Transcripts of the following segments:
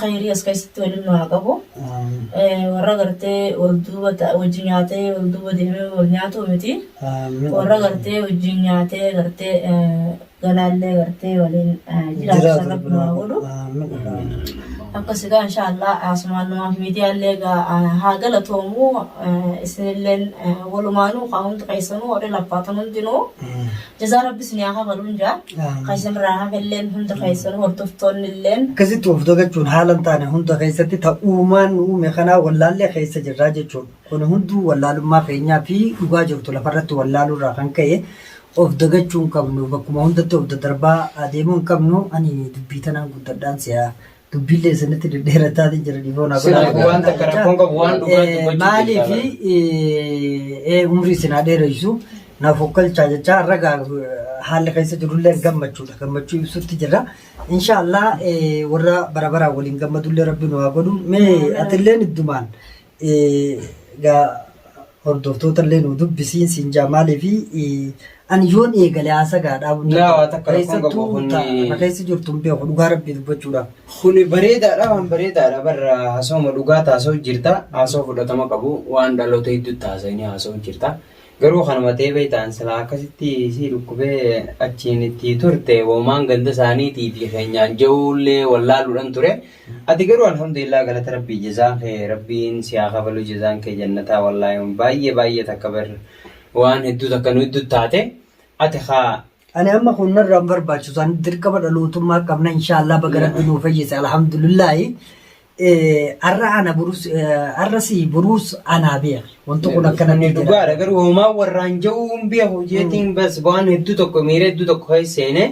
khayrii as keessatti waliin nu haa qabu. Warra gartee wal duuba wajji nyaatee wal duuba deemee wal nyaatu miti. Warra gartee wajjin nyaatee gartee galaallee gartee waliin jiraatan rabbi nu haa godhu. Akkas egaa inshaallah asumaan numaaf miidiyaallee egaa haa galatoomu isinilleen walumaanuu haa hundi keessanuu warri laffaataan hundinuu Jazaa rabbi isin haa kafaluun jaa. Amiin. Kan isin irraa hafelleen hundi keessan hordoftoonni illeen. Akkasitti of dagachuun haala hin taane hunda keessatti ta uumaan nu uume kanaa wallaallee keessa jirraa jechuun kun hunduu wallaalummaa keenyaa fi dhugaa jirtu lafarratti wallaaluu irraa kan ka'e of dagachuu hin qabnu bakkuma hundatti of daddarbaa adeemuu hin qabnu ani dubbii tanaan guddadhaan si'a dubbiin leessanitti deddeerattaatiin jira dhiifoo naa Sirrii godhaa. waan takka rakkoon qabu waan dhugaa dubbachuu Maalii fi jaalladha. ee, umrii isin haa dheeressu naaf hokkalchaa jechaa har'a gaa haalli keessa jirullee gammachuudha gammachuu ibsutti jirra. Inshaallah ee, warra bara baraan waliin gammadullee rabbi nu haa godhu. Mee atilleen iddumaan Egaa hordoftoota illee nu dubbisiin siin jaa maaliif ani yoon eegale haasaa gaa dhaabuu hin Laa, waa takka rakkoon qabu Keessattuu kun- ta- na keessa jirtu hin beeku dhugaa rabbii dubbachuudhaaf. Kun bareedaadha waan bareedaadha barra haasawuma dhugaa taasoo jirta haasoo fudhatama qabu waan dhaloota hedduutti haasawanii haasoo jirta garuu kanuma ta'ee beektaan silaa akkasitti si dhukkubee achiin itti turte hoomaan ganda isaaniitii fi keenyaan ja'uullee wallaaluudhaan ture Ati garuu alhamdulillah galata rabbii jazaa kee rabbiin si haa kafaluu jazaan kee jannataa wallahi wan baay'ee baay'ee takka bar waan hedduu takka nu iddu taate ati kaa Ani amma kun narraa hin barbaachisu isaanii dirqama dhalootummaa qabna inshaallah baga rabbi nuu fayyise alhamdulillahi har'a ana burus har'a si burus anaa beeka wanti kun akkana Ani dhugaadha garuu homaa warraan ja'uu hin beeku jeetiin bas waan hedduu tokko miira hedduu tokko keessa seene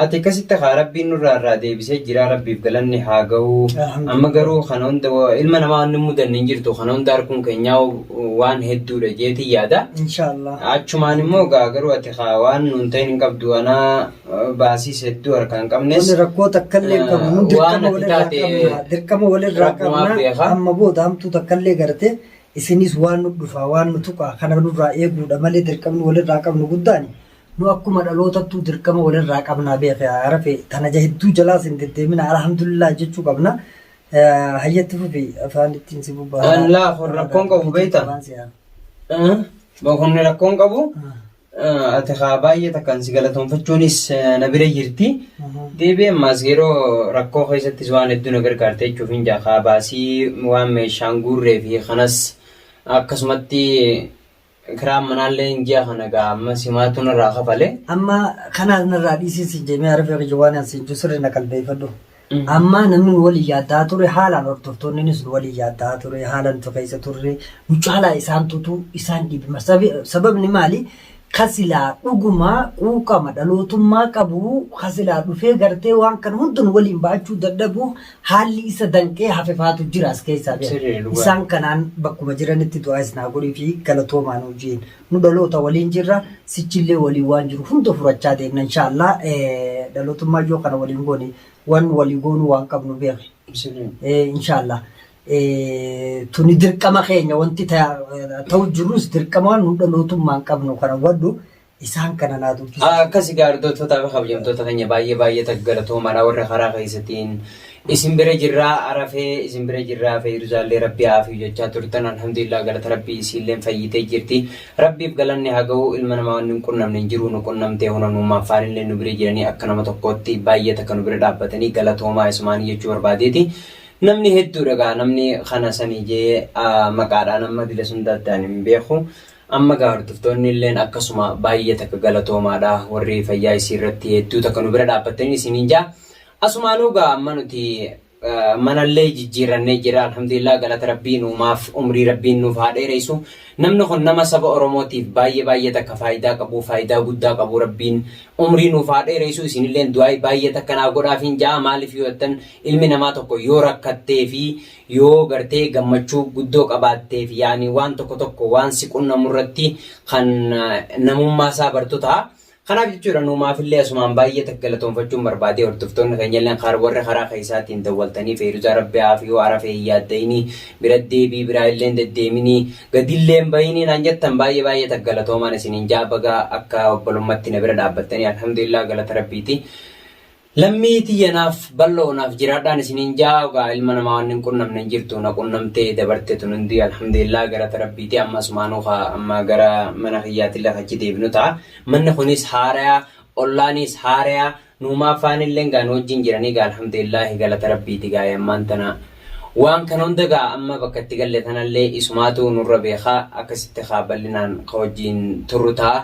Ati kasitta kaa rabbiin nurraa irraa deebisee jiraa rabbiif galanni haa ga'uu Alhamdulillah. amma garuu kana hunda wa- ilma namaa wanni mudanne hin jirtu kana hunda harkuun keenyaa waan hedduudha jeetiin yaada Inshaallah. achumaan immoo gaa garuu ati kaa waan nuun ta'in hin qabdu anaa eh, baasiis hedduu harkaa hin qabnes Wani rakkoo takkallee hin qabnu. Nun Waan dirqama ati walirraa taate qabna. Dirqama walirraa Rabbumaa qabna. beeka. Amma booda hamtuu takkallee gartee isinis waan nu dhufaa waan nu tuqaa kana nurraa eeguudha malee dirqamni walirraa qabnu guddaani. Nu akkuma dhalootattuu dirqama walirraa qabnaa beeki haa rafe tana ja hedduu jalaas hin deddeemina alhamdulillah jechuu qabna. Eh, Hayyatti fufi afaan ittiin si bubba. An laafu rakkoon qabu beektaa? Waan si haa. Boqonni rakkoon qabu Ah, ati haa baay'ee takkaan si galatoonfachuunis eh, na bira jirti. aha. Deebi'ee ammaas yeroo rakkoo keessattis waan hedduu na gargaarte jechuuf hin jaa haa baasii waan meeshaan guurree fi kanas akkasumatti Kiraan manaalleen ji'a kana gaa amma simaatu narraa kafale. Amma kanaas narraa dhiisii siin jee mee arafii akka jawaan aan siin juu sirri na qalbeeffadhu. Amma namni nu waliin yaaddaa ture haalaan hordoftoonninis nu waliin yaaddaa ture haalaan tu keessa turre nu caalaa isaan tutu isaan dhibima. Sababni maali? Kasilaa dhugumaa quuqama dhalootummaa qabu kasilaa dhufee gartee waan kan hundu nu waliin ba'achuu dadhabu haalli isa danqee hafe faatu jira as keessaa beeka. Sirrii dhugaa. Isaan kanaan bakkuma jiranitti du'aa isin haa godhuu fi galatoomaa nuun jeen. Nu dhaloota waliin jirra sichillee waliin waan jiru hunda furachaa deemna inshaallah Eh, dhalootummaa yoo kana waliin goone waan walii goonuu waan qabnu beeki. Sirrii. Eh, inshaallah Eh, tuni dirqama keenya wanti ta- ta'u jirus dirqama waan nu dhalootummaan qabnu kana hubadhu isaan kana naa dubbisa. Akkasi gaardottotaa fi kabajamtoota keenya baay'ee baay'ee taggalatoomaadha warra karaa keessatiin isin bira jirraa arafee isin bira jirraa feeyruzaallee rabbi haafii jechaa turtan alhamdulillah galata rabbi isiilleen fayyitee jirti rabbiif galanni haa ga'u ilma namaa wanni hin qunnamne hin jiru nu qunnamtee huna nuumaaf faanillee nu bira jiranii akka nama tokkootti baay'ee takka nu bira dhaabbatanii galatoomaa isumaanii jechuu barbaadeeti. Namni hedduudha gaa namni kana sanii jee maqaadhaan amma dila sun daddaan hin beeku. Amma egaa hordoftoonni illeen akkasuma baay'ee takka galatoomaadha warri fayyaa isii irratti hedduu takka nu bira dhaabbattanii isiniin ja'a. Asumaanuu egaa amma nuti mana illee jijjiirrannee jirra alhamdulillah galata rabbii nuumaaf umrii rabbiin nuuf haa dheereysu. Namni kun nama saba oromootiif baay'ee baay'ee takka faayidaa qabu faayidaa guddaa qabu rabbiin umrii nuuf haa dheereysu isin illeen du'aayi baay'ee takka naa godhaafiin ja'a maaliif yoo jettan ilmi namaa tokko yoo rakkattee fi Yoo gartee gammachuu guddoo qabaatteef yaani waan tokko tokko waan si qunnamurratti kan namummaa isaa bartu ta'a. Kanaaf jechuudha nuumaafillee asumaan baay'ee takka galatoonfachuun barbaadee hordoftoonni keenyalleen kaar warri karaa keessaatiin dawwaltanii feeruzaa rabbi haafiyuu arafee hin yaaddayinii bira deebii biraa illeen deddeeminii gadilleen bayinii naan jettan baay'ee baay'ee takka galatoomaan isiniin jaa bagaa akka obbolummatti na bira dhaabbattanii alhamdulillah galata rabbiiti Lammii tiyya naaf ballo naaf jiraadhaan isiniin ja'a ogaa ilma namaa wanni hin qunnamne hin jirtu na qunnamtee dabarte tun hundii alhamdulillah galata rabbiiti amma asumaanuu ka amma gara mana kiyyaatille ka achi deebinu ta'a manni kunis haaraya ollaaniis haaraya nuumaa faanilleen gaa nu wajjin jiranii gaa alhamdulillah galata rabbiiti gaa ammaan tana waan kana hunda gaa amma bakka itti galle tanallee isumaatu nurra beeka akkasitti ka ballinaan ka wajjin turru ta'a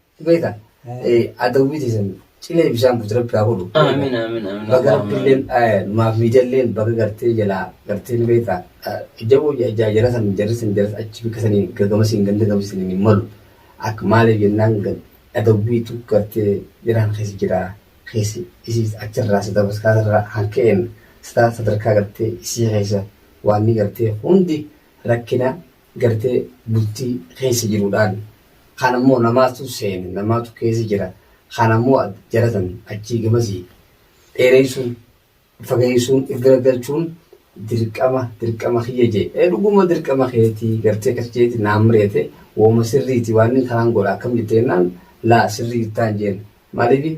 Beeka adawwii teessan cilee bishaan buutu rabbi haa godhu. Aamin aamin aamin. Baga rabbilleen maaf miidiyalleen baga gartee jalaa gartee ni beekta. Jaboo jara san jarri san jarri achi bakka sanii gagama siin ganda gama siin hin malu. Akka maaliif jennaan adawwiitu gartee jiraan keessa jira. Keessa isii achirraa sadarkaa irraa hanka'een sadarkaa gartee isii keessa waan ni gartee hundi rakkina gartee bultii keessa jiru dhaali kaan ammoo namaatu seene namaatu keessa jira kaan ammoo jara san achii gamasii dheereysuun fageeysuun if garagalchuun dirqama dirqama kiyya jee ee dhuguma dirqama keetii gartee kas jeeti naan mari'ate wooma sirriiti waan inni kanaan godha akkam jetteenaan laa sirrii jirtaan jeen maaliif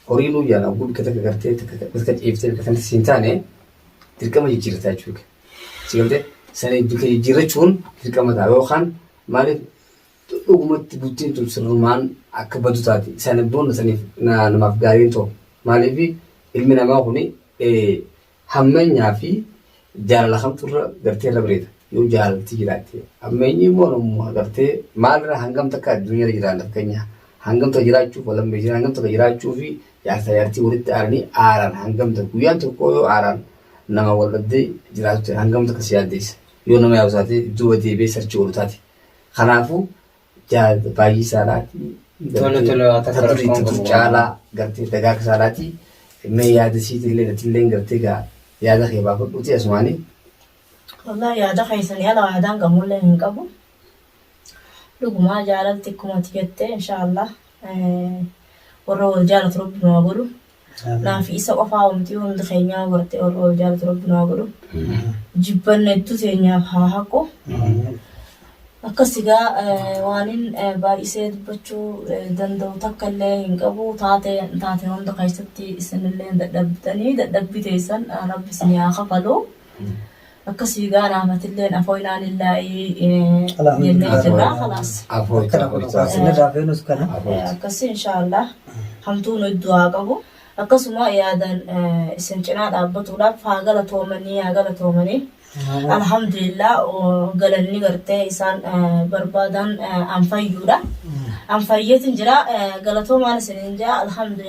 horii nuu jaana oguu bikka takka gartee takka ciiftee bikka kanatti siin taane dirqama jijjiirrataa jechuudha. Sigalte sana bika jijjiirrachuun dirqama ta'a yookaan maaliif dhugumatti bultiin tun sirrumaan akka badu taati. Sana booda saniif namaaf gaariin ta'u. Maaliif ilmi namaa kun hammeenyaa fi jaalala kamtu irra gartee irra bareeda. Yoo jaalalti jiraatte. Hammeenyi immoo namuma gartee maalirra hangam takka addunyaa irra jiraanna fakkeenya. Hangam takka jiraachuuf wal hammeessina hangam takka jiraachuu fi jaarsa jaartii walitti aaranii aaran hangam takka guyyaan tokko yoo aaran Nama wal dhabdee jiraatu ta'e hangam takka si yaaddeessa. Yoo nama yaadu taate duuba deebi'ee sarchii godhu taate. Kanaafuu jaal baay'isaa dhaatii Tole, tole, waa takka ta durii rakkoon ta qabu dur waan. caalaa gartee dagaagsaa dhaatii mee yaada siitillee natilleen gartee gaa yaada kee baafadhuutii asumaanii. Wallaahi yaada keessanii ala yaadaan qabullee hin qabu. Dhugumaa jaalalti akkuma ati jette inshaallah warra wal jaalatu rabbi nu haa godhu. Naafi isa qofaa omti hundi keenyaa garte warra wal jaalatu rabbi nu haa godhu. Jibbanna hedduu teenyaaf haa haqu. Akkas egaa waanin baay'isee dubbachuu danda'u takka illee hin qabu taate taate hunda keessatti isinillee dadhabdanii dadhabbii teessan rabbi isin haa kafalu. Akka sii gaara Ahmatilleen afoo ilaalin laa'ii jennee jirra kalaas. Afoo Akka lafa dhugaa isaa. sinirraa feenus kana. Eh, Akkasii inshaallah hamtuun iddoo haa qabu. Akkasuma yaadan eh, isin cinaa dhaabbatuudhaaf haa galatoomanii haa galatoomanii. Alhamdulillah oh, galanni gartee isaan eh, barbaadan eh, an fayyuudha. An fayyeetin jira eh, galatoomaan isiniin jaa alhamdulillah.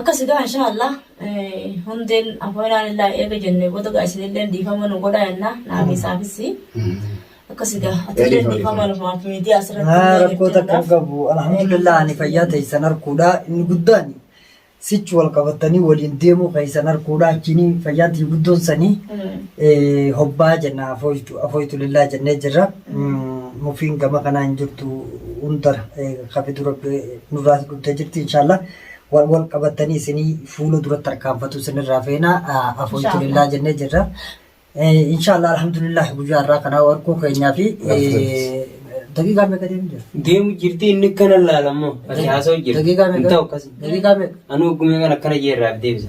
Akkasi gaa inshaa Allah hundeen afoonaan illaa eega jennee booda gaa isinillee dhiifama nu godhaa jennaa naafii saafissi. Akkasi gaa atillee dhiifama numaaf miidiyaa asirratti illee rakkoo takka hin qabu alhamdulillah ani fayyaa teessan harkuudha inni guddaan sichi wal qabatanii waliin deemuu keessan harkuudha achiin fayyaan tii guddoon sanii hobbaa jenna afooytu lillaa jennee jirra mufiin gama kanaa hin jirtu hundara kabidu rabbi Nurraas gudda jirti inshallah. Wal wal qabattanii isinii fuula duratti tarkaanfatu isinirraa feena afoytu lillaa jennee jirra. Inshallah alhamdulillah guyyaa irraa kanaa warquu keenyaa fi daqiiqaa meeqa deemu jira? Deemu jirti inni kana laalammoo. Ati haasoo jirti. Daqiiqaa meeqa? Hin ta'u akkasuma. Daqiiqaa meeqa? Anuu ogumee kan akkana jeerraaf deebisa.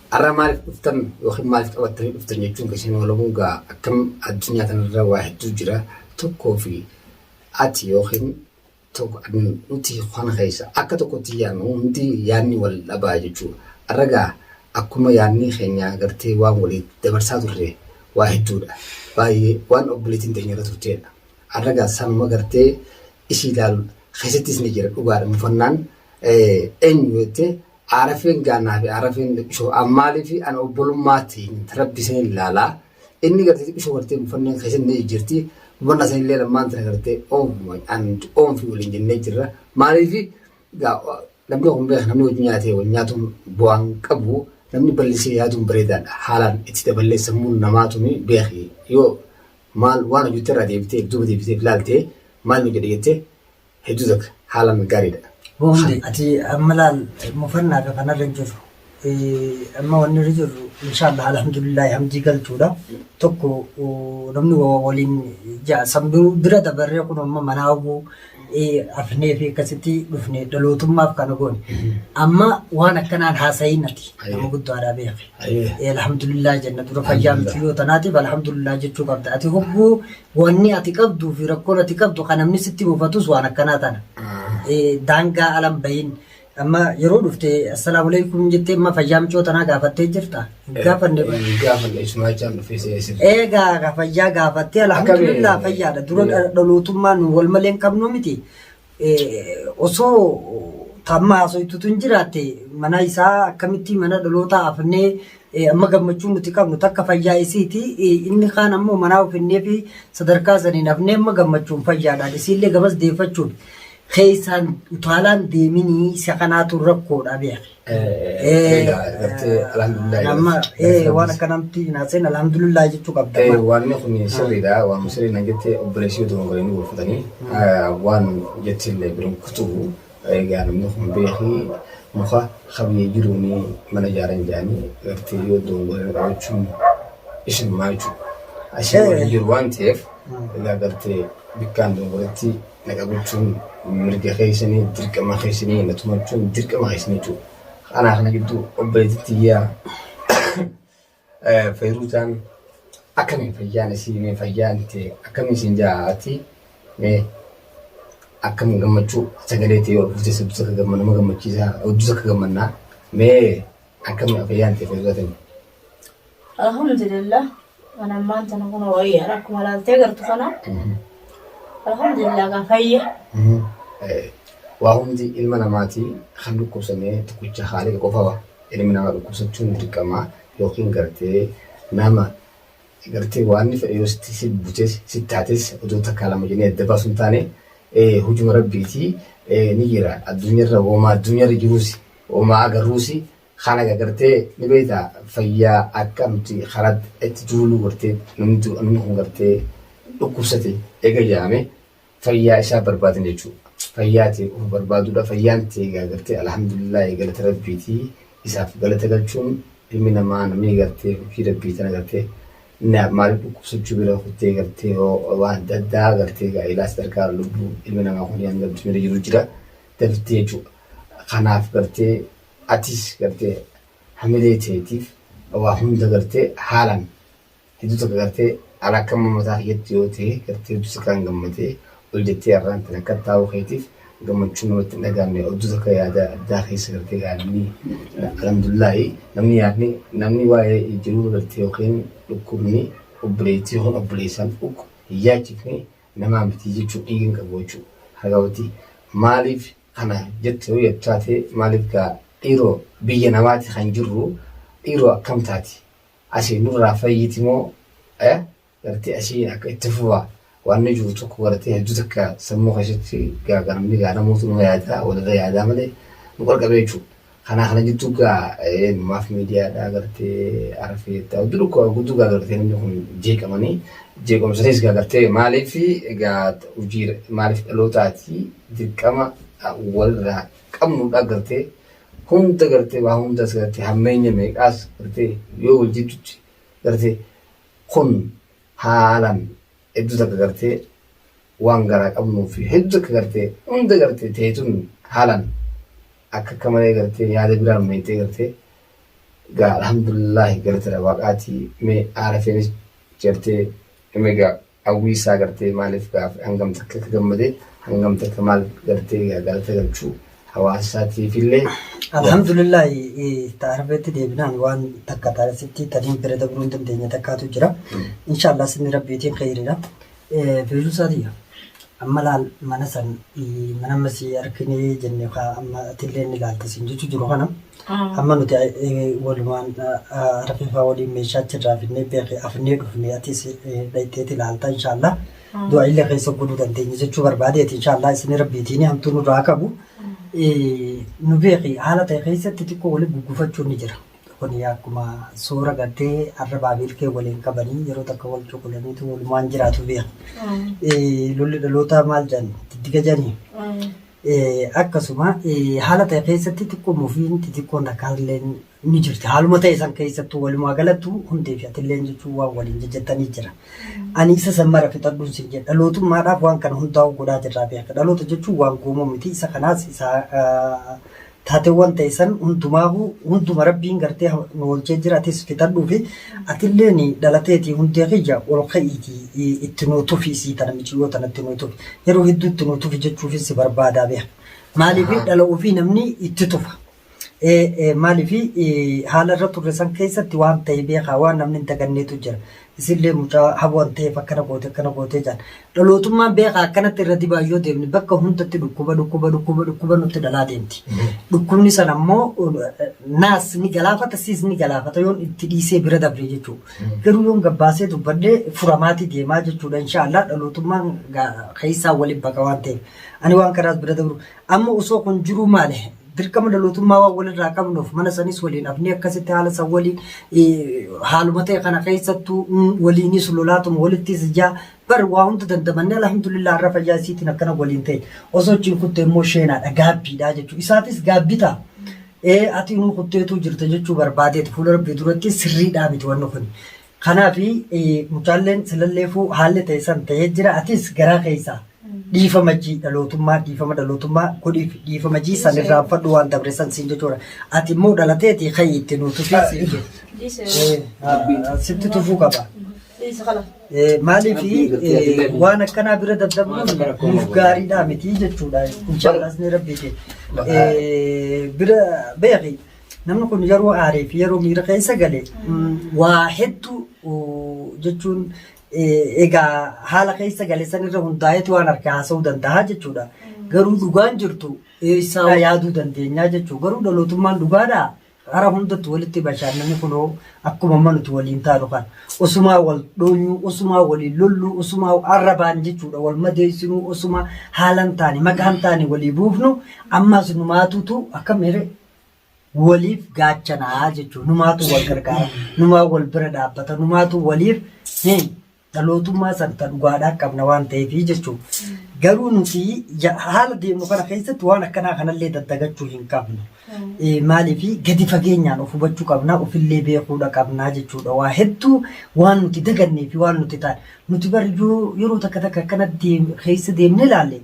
Arra maaliif dhuftan yookiin maaliif qabattanii dhuftan jechuun keessan walabuun gaa akkam addunyaa kanarra waa hedduu jira tokkoo fi ati yookiin tokko nuti kana keessa akka tokkotti yaannu hundi yaanni wal dhabaa jechuu arra gaa akkuma yaanni keenya gartee waan walii dabarsaa turre waa hedduudha baay'ee waan obboleettiin teenya irra turteedha arra gaa sanuma gartee ishii ilaalu keessattis ni jira dhugaadha mufannaan eenyu jettee Aarafeen gaanaa fi aarafeen dhiphisoo ammaalii fi an obbolummaatiin rabbi isin ilaalaa inni gartee dhiphisoo gartee buffanneen keessatti ni jijjirti bufannaa san illee lammaan tana gartee oomfuma an oomfi waliin jennee jirra maaliif namni kun beeka namni wajjin nyaatee wal nyaatuun bu'aan qabu namni ballisee yaaduun bareedaadha haalaan itti daballee sammuun namaa tuni beeki yoo maal waan hojjette irraa deebitee duuba deebitee ilaaltee maal nu jedhe jettee Hedduu takka haalan gaariidha. Hundi ati amma laal mufannaa fi kanarra hin jirru. Eh, Amma wanni irra jirru inshaallah alhamdulillahi hamdii galchuudha. Tokko oh, namni wa- wa- waliin ja'a samduu bira dabarree kun amma manaa hoguu eh, afnee fi akkasitti dhufne dhalootummaaf kana goone. Amma waan akkanaan haasa'iin ati Ayyee. nama guddaadhaa beekne. Ayyee. Eh, Alhamdulillah jenna dura fayyaa miti yoo tanaatiif alhamdulillah jechuu qabda. Ati hogguu Wanni ati qabduu fi rakkoon ati qabdu kan namni sitti mufatus waan akkanaa tana. Eh, Daangaa alan bahin. Amma yeroo dhufte assalaamu alaikum jettee amma fayyaa micoo tanaa gaafattee jirta. Hin Gaafanne ba. Gaafanne isumaa jechaan dhufee seenee sirrii. Eegaa ka fayyaa gaafattee alhamdulillah Akkami- fayyaadha. Dura dha- dhalootummaan wal malee hin qabnu miti. osoo ta amma haasoytu tun jiraatte mana isaa akkamitti mana dhalootaa hafnee amma gammachuu nuti qabnu takka fayyaa isiiti inni kaan ammoo manaa ofinnee fi sadarkaa saniin hafnee amma gammachuun fayyaadhaan isiillee gamas deeffachuun keessaan utaalaan deeminii isa kanaatu rakkoodha beeke. Nama waan akka namti hin haaseen alhamdulillah jechuu qabda. Waanni kun sirriidha. Waan sirrii nan jette obboleessi yoo tokko hin gorfatanii waan jette illee biroon kutuu egaa namni kun beeki muka qabiyyee jiruun mana ijaaran jedhanii gartee yoo doongolee qabachuun isin maachuu. Asii waan jiru waan ta'eef egaa gartee bikkaan doongoletti Naga bulchuun mirga keessani dirqama keessani na tumachuun dirqama keessani jechuudha. Kanaa kana gidduu obboleetti tiyyaa Feeruutaan akkamiin fayyaan isii mee fayyaan tee akkamiin isin jaati mee akkam gammachuu sagalee tee yoo dhufte sabbi takka gamma nama gammachiisaa hojii takka gammannaa mee akkamiin fayyaan tee Feeruutaan. Alhamdulillah an ammaan tana kun wayyaadha akkuma laaltee gartu kana. Alhamdulillah gaa fayya. Waa hundi ilma namaatii kan dhukkubsannee tokkicha haaliqa qofawa. Ilmi namaa dhukkubsachuun dirqamaa yookiin gartee nama gartee waan inni fedhe yoo sitti si butees sitti taates odoo takkaa lama jennee adda baasu hin taane hujuma rabbiitii ni jira. Addunyaarra woomaa addunyaarra jiruusi woomaa agarruusi Kana egaa gartee ni beekta fayyaa akka nuti karaatti itti duuluu gartee namni dur namni kun gartee dhukkubsate eega jedhame fayyaa isaa barbaadan jechuudha. Fayyaa ta'e of barbaaduudha. Fayyaan ta'e egaa gartee alhamdulillah galata rabbiiti. Isaaf galata galchuun ilmi namaa namni gartee hojii rabbii tana gartee na- maaliif dhukkubsachuu bira kuttee gartee hoo waan adda addaa gartee egaa ilaa sadarkaa lubbuu ilmi namaa kun hanga addunyaa irra jiru jira daftee jechuudha. Kanaaf gartee Atis gartee hamilee teetiif waa hunda gartee haalan hedduu takka gartee an akka amma mataa kiyyatti yoo ta'e gartee hedduu takkaan gammadee ol jettee arraan tana akka taa'uu keetiif gammachuu namatti hin dhagahamne odduu takka yaada addaa keessa gartee gaa namni alhamdullaahi namni yaadni namni waa'ee jiruu gartee yookiin dhukkubni obboleettii yookiin obboleessaan ukku hin yaachifne namaa miti jechuu dhiiga hin qabu jechuu haga wati maaliif kana jettu yottaate maalif gaa dhiiro biyya namaati kan jirru dhiiro akkam taati asi nurraa fayyiti moo eh gartee asiin akka itti fufa waanni jiru tokko gartee hedduu takka sammuu keessatti gaa ganamni gaa namuutu numa yaadaa walirra yaadaa malee nu qalqabee jechuudha Kanaa kana jittuu gaa maaf miidiyaa dhaa gartee arfee jettaa oddu dhukkuba gudduu gaa gartee namni kun jeeqamanii jeequmsaniis gaa gartee maaliif gaa hojii maaliif dhalootaati dirqama walirraa qabnu dhaa gartee hunda gartee waa hundas gartee hammeenya meeqaas gartee yoo wal jiddutti gartee kun haalan hedduu takka gartee waan garaa qabnuu fi hedduu takka gartee hunda gartee teetun haalan akka akka malee gartee yaada biraa ammeentee gartee gaa alhamdulillahi galatadha waaqaati mee aarafeenis jartee mee gaa hawwii isaa gartee maaliif gaaf hangam takka akka gammadee hangam takka maal gartee gaa galata galchuu hawaasa isaatiifillee Alhamdulillah taarifeetti deebinaan waan takka taarisitti taniin bira dabruu hin dandeenye takkaatu jira. Inshaallah sinni rabbiitiin kheyriidha. Feesuu isaa tiyya. Amma laal mana san mana amma si argine jenne kaa amma atillee ni laalta siin jechuu jiru kana amma nuti walumaan rafeefaa waliin meeshaa achirraa finnee beekee afnee dhufne atis dhayxeeti laalta inshaallah du'a illee keessa godhuu dandeenya jechuu barbaadeeti inshaallah isin rabbiitiin hamtuu nurraa qabu nu beeki haala ta'e keessatti xiqqoo waliin guggufachuun ni jira Kuni akkuma soora gartee arrabaa fi ilkee waliin qabanii yeroo takka wal cuqulaniitu walumaan jiraatu biya. Lolli dhalootaa maal jedhan diddiga jedhanii. Akkasuma haala ta'e keessatti xiqqoon ofiin xixiqqoon rakkaallee ni jirti. Haaluma ta'e san keessattuu walumaa galattu hundee fi atillee jechuun waan waliin jajjattanii jira. Ani isa san mara fixadhuun sin jedha. Dhalootummaadhaaf waan kana hundaa'uu godhaa jirraa beeka. Dhaloota jechuun waan goomoo miti. Isa kanaas isa Taateewwan ta'e san hundumaahuu hunduma Rabbiin gartee nu oolchee jira atis fixadhuufi atilleen dhalateetii hundee kiyya ol ka'iitii itti nuu tufi isii tana miciyyoo tana itti nuu tufi yeroo hedduu itti nuu tufi jechuufin si barbaadaa beeka maaliif Ahaa. dhala ofii namni itti tufa Ee, ee, maaliif ee, haala irra turre san keessatti waan ta'e beekaa waan namni hin daganneetu jira Isinlee mucaa hawwan ta'eef akkana goote akkana goote jedhan. Dhalootummaan beekaa akkanatti irra dibaa yoo deemne bakka hundatti dhukkuba dhukkuba dhukkuba dhukkuba nutti dhalaa deemti. Dhukkubni sana immoo naas ni galaafata siis ni galaafata yoon itti dhiisee bira dabree jechuudha. Garuu yoon gabbaasee dubbadhee furamaatii deemaa jechuudha inshaallah dhalootummaan keessaa waliin baqa waan ta'eef. Ani waan kanaas bira dabru Amma osoo kun jiruu maali? Dirqama dhalootummaa waan walirraa qabnuuf mana sanis waliin hafnee akkasitti haala san waliin haaluma ta'e kana keessattuu waliinis lolaatuma walittis ijaa bar waa hunda dandamannee alhamdulillah har'a fayyaa isiitiin akkana waliin ta'e osoo achiin kutte immoo sheenaadha gaabbiidha jechuudha. Isaatis gaabbi ta'a. Ee ati nuu kutteetuu jirta jechuu barbaadeeti fuula rabbii duratti sirriidhaa miti wanni kun. Kanaafi mucaalleen silalleefuu haalli ta'e san ta'ee jira atis garaa keessaa dhiifama jii dhalootummaa dhiifama dhalootummaa godhiif dhiifama jii san irraanfadhu waan dabre san siin jechuudha. Ati immoo dhalateeti ka'i itti nuu tufii siin jedhe. Eh, ah, Sitti tufuu qaba. Eh, Maaliif eh, waan akkanaa bira daddabuun nuuf gaariidhaa miti jechuudha. Inshaallah asni rabbiiti. Eh, Bira beeki. Namni kun yeroo aaree fi yeroo miira keessa gale waa hedduu jechuun egaa haala keessa gale san irra hundaa'eetu waan harkaa haasa'uu danda'a jechuudha. Garuu dhugaan jirtu isaa yaaduu dandeenyaa jechuudha. Garuu dhalootummaan dhugaadhaa hara hundatti walitti bashaannani kunoo akkuma amma nuti waliin taanu kan osumaa wal dhoonyuu osumaa waliin lolluu osumaa arrabaan jechuudha wal madeessinuu osumaa haalan taane maqaan taane walii buufnu ammaas numaatutu akka mere waliif gaachanaa jechuudha. Numaatu wal gargaara, numaa wal bira dhaabbata, numaatu waliif hin dhalootummaa san ta dhugaadhaa qabna waan ta'eef jechuudha. Garuu nuti ya- haala deemnu kana keessatti waan akkanaa kanallee daddagachuu hin qabnu. Eh, Maaliif gadi fageenyaan of hubachuu qabna, ofillee beekuudha qabna jechuudha. Waa hedduu waan nuti dagannee fi waan nuti taane. Nuti bari yoo- yeroo takka takka akkana deem- keessa deemnee ilaalle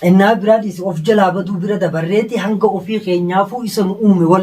Xinnaa biraa dhiisi of jalaa baduu bira dabarreeti hanga ofii keenyaafuu isa nu uume